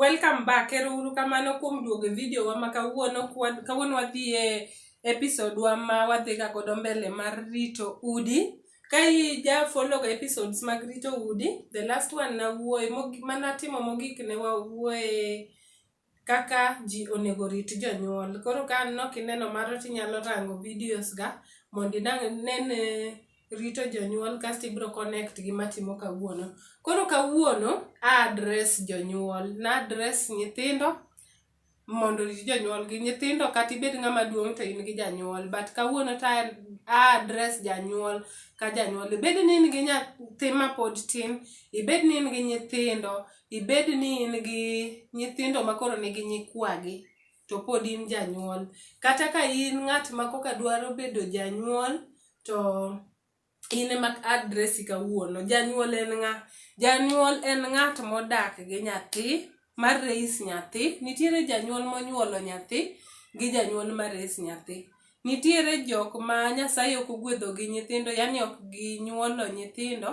Welcome back. Ero uru kamano kuom duogo e video wa ma kawuono kawuono wadhi e episode wa ma wadhi ga godo mbele mar rito udi. Ka i ja follow ga episodes mag rito udi, the last one na wuoye mana timo mogik ne wa wuoye kaka ji onego rit jonyuol. Koro ka aneno kineno mano tinyalo rango videos ga mondo inene rito jonyuol kasto ibiro connect gi matimo kawuono. Koro kawuono a address jonyuol, na address nyithindo mondo orit jonyuol gi. Nyithindo kata ibed ng'ama duong' to in gi janyuol but kawuono to a address janyuol ka janyuol. Ibed ni in gi nyathi mapod tin, ibed ni in gi nyithindo, ibed ni in gi nyithindo ma koro nigi nyikwagi to pod in janyuol kata ka in ng'at ma koka dwaro bedo janyuol to in ema adresi kawuono janyuol en ng'a janyuol en ng'at modak gi nyathi mar reis nyathi nitiere janyuol monyuolo nyathi gi janyuol ma res nyathi Nitiere jok ma Nyasaye ok ogwedho gi nyithindo, yani ok ginyuolo nyithindo,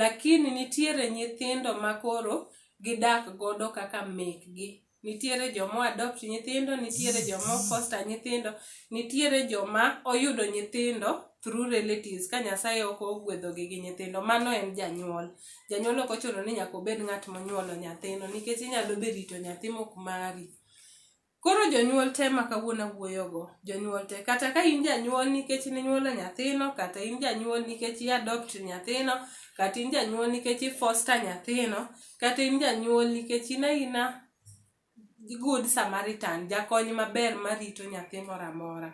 lakini nitiere nyithindo ma koro gidak godo kaka mekgi. Nitiere joma o adopt nyithindo, nitiere joma o foster nyithindo, nitiere joma oyudo nyithindo through relatives ka Nyasaye ok ogwedho gi gi nyithindo. Mano en janyuol. Janyuol ok ochuno ni nyaka obed ng'at monyuolo nyathino nikech inyalo be rito nyathi mok mari. Koro jonyuol te ma kawuono awuoyogo, jonyuol te, kata ka in janyuol nikech ninyuolo nyathino, kata in janyuol nikech i adopt nyathino, kata in janyuol nikech i foster nyathino, kata in janyuol nikech in aina good Samaritan, jakony maber marito nyathi moro amora.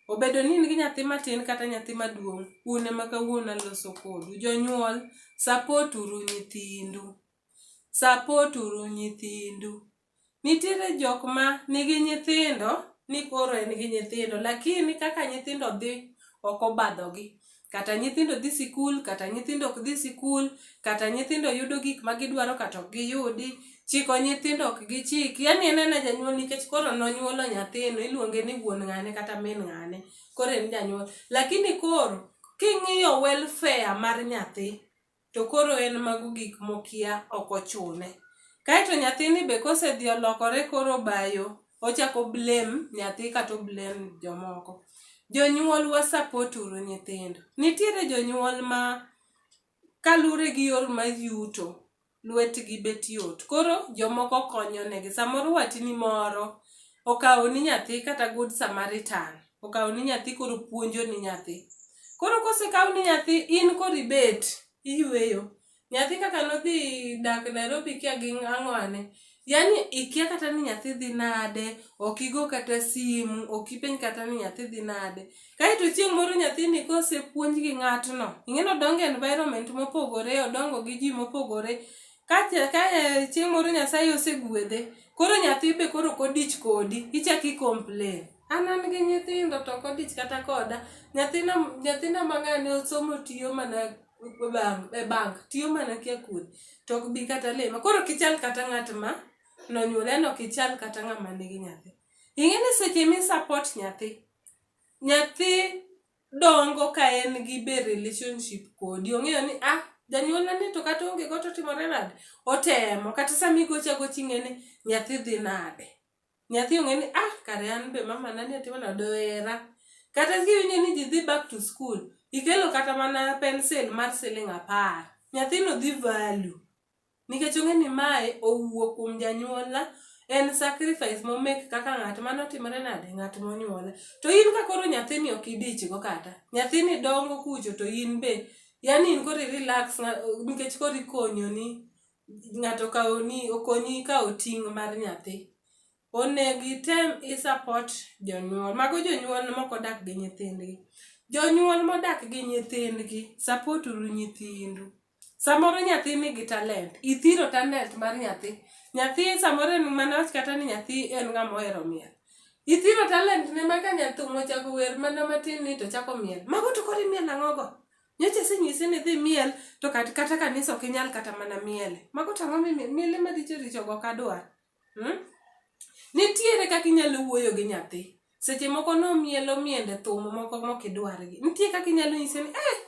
Obedo ni in gi nyathi matin kata nyathi maduong', un ema kawuono aloso kodu. Jonyuol, support uru nyithindu. Support uru nyithindu. Nitiere jok ma nigi nyithindo ni koro en gi nyithindo lakini kaka nyithindo dhi ok obadhogi. Kata nyithindo dhi sikul, kata nyithindo ok dhi sikul, kata nyithindo yudo gik ma gidwaro kata ok giyudi, chiko nyithindo ok gichiki. Yaani en aena janyuol nikech koro nonyuolo nyathino iluonge ni wuon ng'ane kata min ng'ane, koro en janyuol. Lakini koro king'iyo welfare mar nyathi, to koro en mago gik mokia ok ochune. Kaeto nyathini be kosedhi olokore koro obayo, ochako blame nyathi kata oblame jomoko. Jonyuol wa support uru nyithindo. Nitiere jonyuol ma kalure gi yor ma yuto, lwetgi bet yot. Koro jomoko konyo negi. Samoro watni moro okawo ni nyathi kata good samaritan. okaw ni nyathi koro puonjo ni nyathi koro kosekaw ni nyathi in koro ibet iyweyo nyathi kaka nodhi dak nairobi kia gi ang'wane yani ikia kata ni nyathi dhi nade ok igo kata simu ok ipenj kata ni nyathi dhi nade kaeto chieng' moro nyathini kosepuonj gi ng'atno ing'eni odongo environment mopogore odongo gi ji mopogore kacha ka e, chieng' moro nyasaye osegwedhe koro nyathi be koro kodich kodi ichak i complain an an gi nyithindo to ok odich kata koda nyathina nyathina mang'ane osomo tiyo mana bank e bank tiyo mana kia kuoth to ok bi kata lema koro kichal kata ng'at ma nonyuole no kichal kata ng'ama nigi nyathi ing'e ni seche mi support nyathi nyathi dongo ka en gi be relationship kodi ong'eyo ni ah janyuolna ni to kata onge go to timore nade otemo kata sami gocha goching'e ni nyathi dhi nade Nyathi ong'e ni ah kare an be mama na ne timana doera. Kata kiwinjo ni ji dhi back to school, ikelo kata mana pencil mar siling apar. Nyathino dhi value. Nikech ong'e ni mae owuok kuom janyuolna, en sacrifice mo make kaka ng'at mane otimore nade, ng'at monyuola. To in ka koro nyathini ok idichgo kata, nyathini dongo kucho to in be, yaani in koro i relax nikech koro ikonyoni. ng'ato kawoni okonyi kawo ting' mar nyathi, onego item i support jonyuol. Mago jonyuol mok odak gi nyithindgi. Jonyuol modak gi nyithindgi, support uru nyithindu. Samoro nyathi nigi talent, ithiro talent mar nyathi. Nyathi samoro en mana awach kata ni nyathi en ng'ama ohero miel. Ithiro talent ne ma ka nya thum ochako wer mana matin ni to ochako miel. Mago to koro imiel ang'o go? Nyocha asenyisi ni dhi miel to kat- kata kanisa ok inyal kata mana miele. Mago to ang'o mimi- miele maricho richo go kadwar? Hmm? Nitiere kaka inyalo wuoyo gi nyathi. Seche moko nomielo miende thum moko mok idwargi. Nitie kaka inyalo nyise ni eh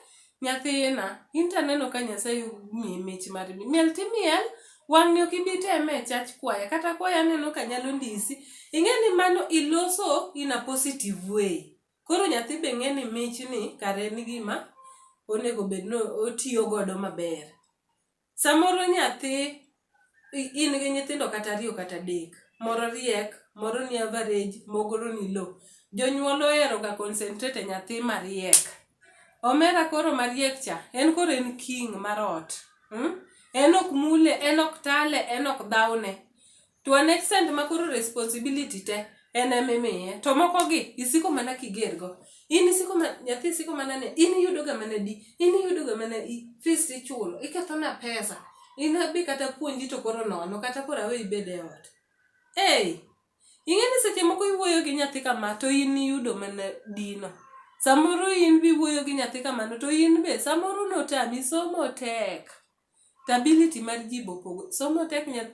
nyathina in to aneno ka Nyasaye miyi mich mar mi- miel timiel wang'ni ok ibi teme e chach kwaya kata kwaya aneno ka nyalo ndisi. Ing'e ni mano iloso in a positive way. Koro nyathi be ng'e ni mich ni kare en gima onego bed ni otiyo godo maber. Samoro nyathi in gi nyithindo kata ariyo kata adek, moro riek, moro ni average, moro ni low. Jonyuol ohero ga concentrate e nyathi mariek. Omera koro mariek cha, en koro en king mar ot. En ok mule, en ok tale, en ok dhawne. to an extent ma koro responsibility te en emimiye to moko gi isiko mana kiger go in isiko ma nyathi isiko mana ne in iyudo ga mana di in iyudo ga mana i fees ichulo iketho na pesa in abi kata puonji to koro nono kata koro awe ibed e ot ei ing'e ni seche moko iwuoyo gi nyathi kama to in iyudo mana dino samoro in biwuoyo gi nyathi kamano to in be samoro notami somo tek The ability mar jibo pogo. Somo tek nyath,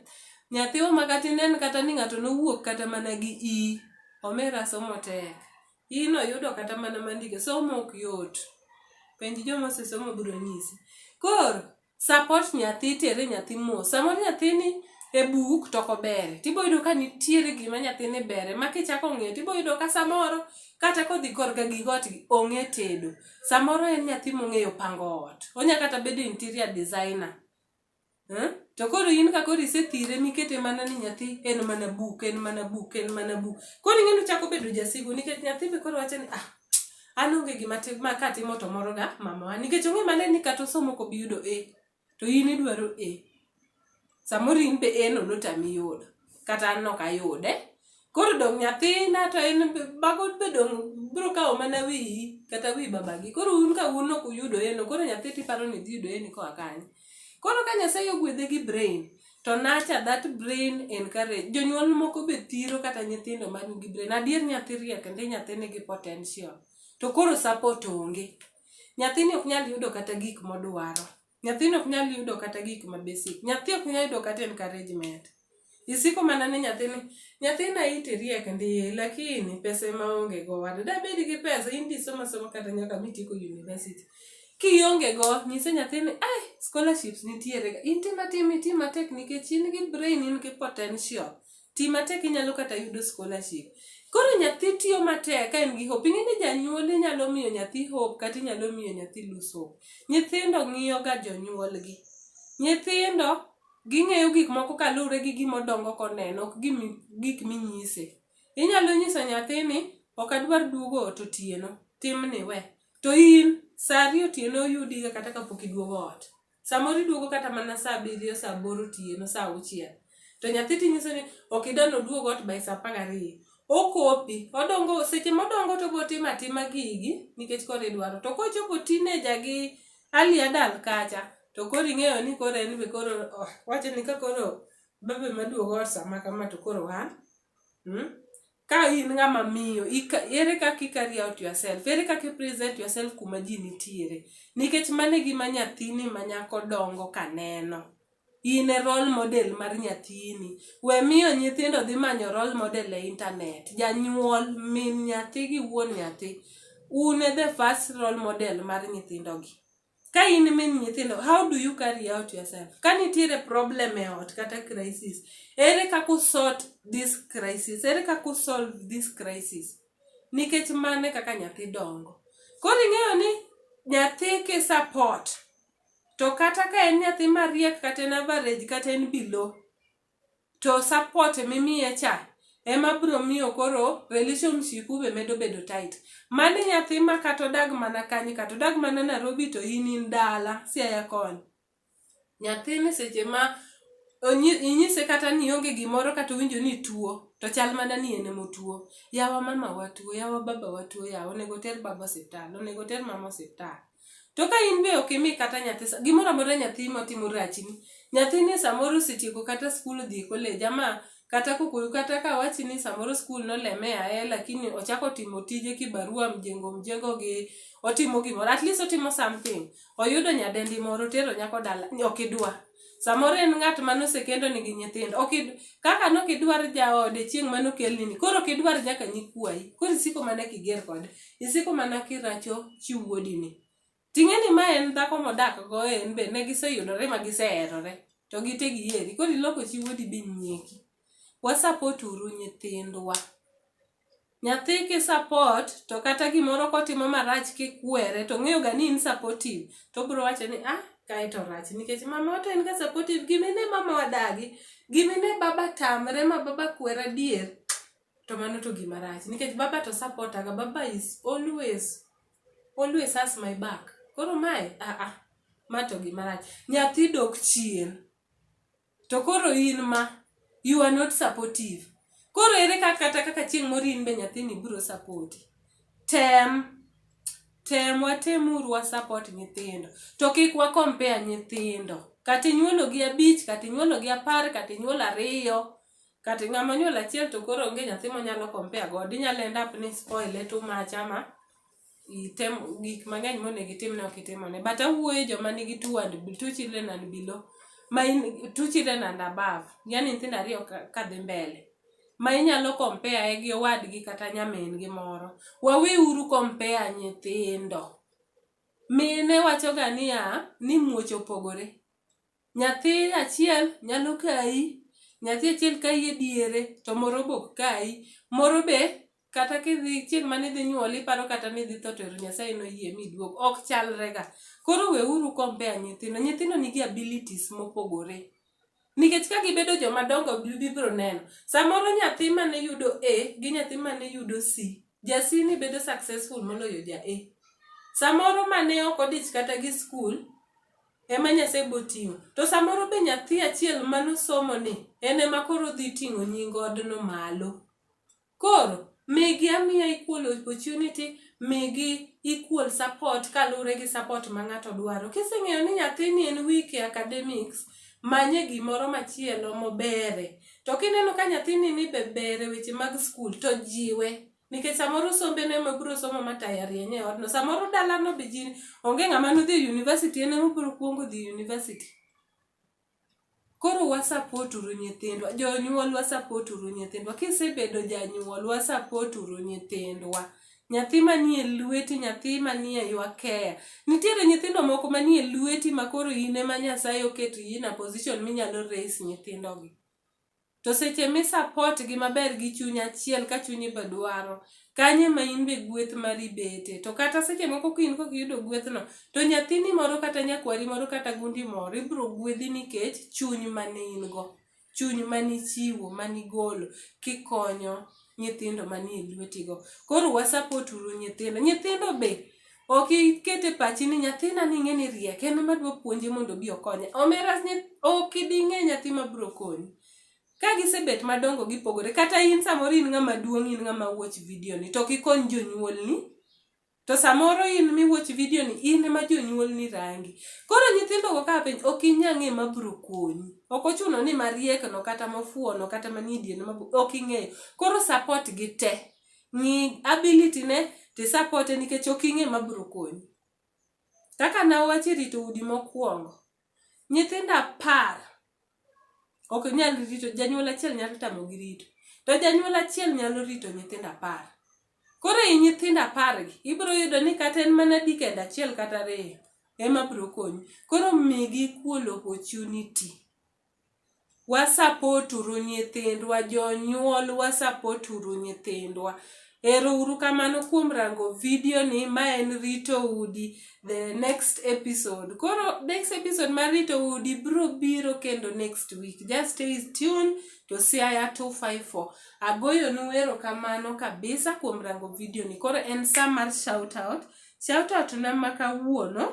nyathi oma kata inen kata ni ng'ato nowuok kata mana gi i. Omera somo tek. Ino yudo kata mana mandike. Somo ok yot. Penj joma osesomo biro nyisi. Koro, support nyathi, tere nyathi mos. Samoro nyathini e buk to ok obere. Tibo yudo ka nitiere gima nyathini bere ma kichako ng'iyo tibo yudo ka samoro kata kodhi korka gi ot ong'e tedo. Samoro en nyathi mong'eyo pango ot. Onya kata bedo interior designer. Eh? To koro in ka koro isethire mikete mana ni nyathi en mana buk, en mana buk, en mana buk. Koro ing'eni chako bedo jasigu nikech nyathi be koro wacho ni ah an onge gima tim ma katimo to moro ga mamawa nikech ong'e mana ni kata osomo kobi yudo A. to in idwaro e samoro in be eno notami yudo kata an nok ayude koro dong nyathina to en bago be dong bro kawo mana wiyi kata wi babagi koro un ka un ok uyudo eno koro nyathi tiparo ni dhi yudo eni koa kanye koro ka nyasaye ogwedhe gi brain to nacha that brain encourage jonyuol moko be thiro kata nyithindo man gi brain adier nyathi riek ndi nyathi nigi potential to koro support onge Nyathini ok nyal yudo kata gik modwaro. Nyathini ok nyal yudo kata gik ma basic. Nyathi ok nyal yudo kata encouragement. Isiko mana ni nyathini, nyathina iti riek ndiye, lakini pesa ema onge go wada. Da bedi gi pesa, in disoma soma kata nyaka mitieko university. Kionge go, nyise nyathini, ai, scholarships nitiere ga. In tima tim, itima tek nikech in gi brain, in gi potential. ti matek inyalo kata yudo scholarship. Koro nyathi tiyo matek ka en gi hope. Ing'e ni janyuol inyalo miyo nyathi hope kata inyalo miyo nyathi lose hope. Nyithindo ng'iyo ga jonyuolgi. Nyithindo ging'eyo gik moko kaluwre gi gima odongo koneno ok gik minyise. Inyalo nyiso nyathi ni ok adwar duogo ot otieno, timni we. To in sa ariyo otieno oyudiga kata kapok iduogo ot. Samoro iduogo kata mana saa abiriyo, saa aboro otieno, saa auchiel. To nyathi tinyiso ni ok idwa ni oduog ot by saa apar gariyo. Okopi, odongo seche modongo to obotimo atima gigi nikech koro idwaro. To kochopo teenager gi early adult kacha, to koro ing'eyo ni koro en be koro oh, wacho ni ka koro babe maduogo ot sama kama to koro an. Hmm? Ka in ng'ama miyo, ere kaka i-carry out yourself? Ere kaka i-present yourself kuma ji nitiere? Nikech mano e gima nyathini ma nyako dongo ka neno. In e role model mar nyathini. We miyo nyithindo dhi manyo role model e internet. Janyuol, min nyathi gi wuon nyathi, un e the first role model mar nyithindogi. ka in min nyithindo how do you carry out yourself ka nitiere problem e ot kata crisis ere kaka usort this crisis ere kaka usolve this crisis nikech mane kaka nyathi dongo koro ing'eyo ni nyathi ki support to kata ka en nyathi mariek kata en average kata en below To support mimiye cha ema biro miyo koro relationship u be medo bedo tight. Mani nyathi ma kata odag mana kanye, kata odag mana Nairobi to in in dala Siaya koni. Nyathini seche ma onyi- inyise kata ni ionge gimoro kata owinjo ni ituo to chal mana ni en emotuo. Yawa mama wa tuo, yawa baba wa tuo, yawa onego oter baba osiptal, onego oter mama osiptal. To ka in be ok imi kata nyathi sa- gimoro amora nyathi motimo rachni, nyathini samoro osetieko kata skul odhi e college ama kata kokoyo kata ka wachi ni samoro skul noleme aye lakini ochako timo tije kibarua mjengo mjengo gi otimo gimoro at least otimo something oyudo nyadendi moro otero nyako dala ok idwa Samoro en ng'at ma nosekendo nigi nyithindo. Ok kaka nok idwar jaode chieng' ma nokelni ni. Koro ok idwar nyaka nyikwayi. Koro isiko mana kiger kode. Isiko mana kiracho chi wuodi ni. Ting'e ni ma en dhako modak go en be ne giseyudore ma giseherore. To gite giheri. Koro iloko chi wuodi be nyieki. Wa support uru nyithindwa. Nyathi ki support to kata gimoro kotimo marach kikwere to ng'eyo ga ni in supportive to bro wacho ni ah kae to rach nikech mama to en ga supportive gimine mama wadagi gimine baba tamre ma baba kwera dier to mano to gima rach nikech baba to support aga baba is always always has my back koro mae ah ah ma to gima rach nyathi dok chien To koro in ma you are not supportive. Koro ere kaka kata kaka chieng' moro in be nyathini biro sapoti. Tem, tem watemuru wa support nyithindo. To kik wa compare nyithindo. Kata inyuolo gi abich, kata inyuolo gi apar, kata inyuolo ariyo. Kata ng'ama onyuolo achiel to koro onge nyathi monyalo compare godo. Inyalo end up ni i spoile too much ama item gik mang'eny monego itimne ok itimone but awuoyo e joma nigi two and two children and below ma in two children and above yani nyithindo ariyo ka- kadhi mbele ma inyalo compare gi owadgi kata nyamin gi moro waweuru compare nyithindo mine wachoga niya ni muoch opogore Nyathi achiel nyalo kayi, nyathi achiel kayi e diere to moro be ok kayi. Moro be kata kidhi chieng' mane idhi nyuol iparo kata ni idhi tho to ero Nyasaye noyie mi iduog. Ok chalre ga. Koro weuru compare nyithindo. Nyithindo nigi abilities mopogore. Nikech ka gibedo joma dongo gibiro neno. Samoro nyathi mane yudo A gi nyathi mane yudo C, ja C ni bedo successful moloyo ja A. Samoro mane ok odich kata gi skul. Ema Nyasaye boting'o. To samoro be nyathi achiel manosomo ni en ema koro dhi ting'o nying odno malo. Koro migi amiya equal opportunity, migi equal support kaluwore gi support ma ng'ato dwaro. Kiseng'eyo ni nyathini en weak e academics, manye gimoro machielo mobere. To kineno ka nyathini ni be ber e weche mag skul to jiwe. nikech samoro sombe ne mobiro somo ma tayarieny e odno samoro dalano be ji onge ng'ama nodhi e university en emobiro kuongo dhi e university koro wasapot uru nyithindwa jonyuol wasapot uru nyithindwa kisebedo janyuol wasapot uru nyithindwa nyathi manie lweti nyathi manie ywakeya nitiere nyithindo moko manie lweti ma koro in ema nyasaye oketo in a position minyalo raise nyithindogi To seche mi support gi maber gi chuny achiel ka chunyi be dwaro, kanyo ema in be gweth mari bete. To kata seche moko ka in kok iyudo gwethno, to nyathini moro kata nyakwari moro kata gundi moro ibiro gwedhi nikech chuny mane in go. Chuny mane ichiwo, mane igolo kikonyo nyithindo manie lweti go. Koro wa support uru nyithindo. Nyithindo be Ok iket e pachi ni nyathina ni ing'e ni riek en ema dwa puonje mondo obi okonye. Omera ni ok ibi ing'e nyathi ma biro konyi. Ka gisebet madongo gipogore kata in samoro in ng'ama duong' in ng'ama watch video ni to kikony jonyuolni to samoro in mi watch video ni in ema jonyuolni rangi. Koro nyithindo go ka penj ok inya ng'e ma biro konyi. Ok ochuno ni mariek no kata mofuwo no kata manie diere no ok ing'eyo. Koro support gi te. ng'i ability ne to isapot e nikech ok ing'e ma biro konyi. Kaka ne awacho e rito udi mokwongo, nyithindo apar ok nyal rito, janyuol achiel nyalo tamogi rito. To janyuol achiel nyalo rito nyithindo apar. Koro i nyithindo apargi, ibiro yudo ni kata en mana decade achiel kata ariyo ema biro konyi. Koro migi equal opportunity. Wa-support uru nyithindwa, jonyuol wa-support uru nyithindwa. Ero uru kamano kuom rango video ni, ma en Rito Udi, the next episode. Koro next episode mar Rito Udi bro biro kendo next week. Just stay tuned to Siaya 254. Agoyo nu ero kamano kabisa kuom rango video ni. Koro en sa mar shout out. Shout out na ma kawuono.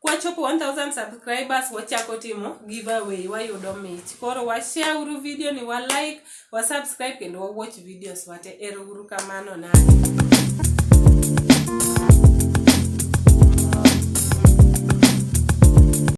kwachopo 1000 subscribers wachako timo giveaway wayudo mich koro washare uru video ni wa like wa subscribe kendo wa watch videos wate ero uru kamano na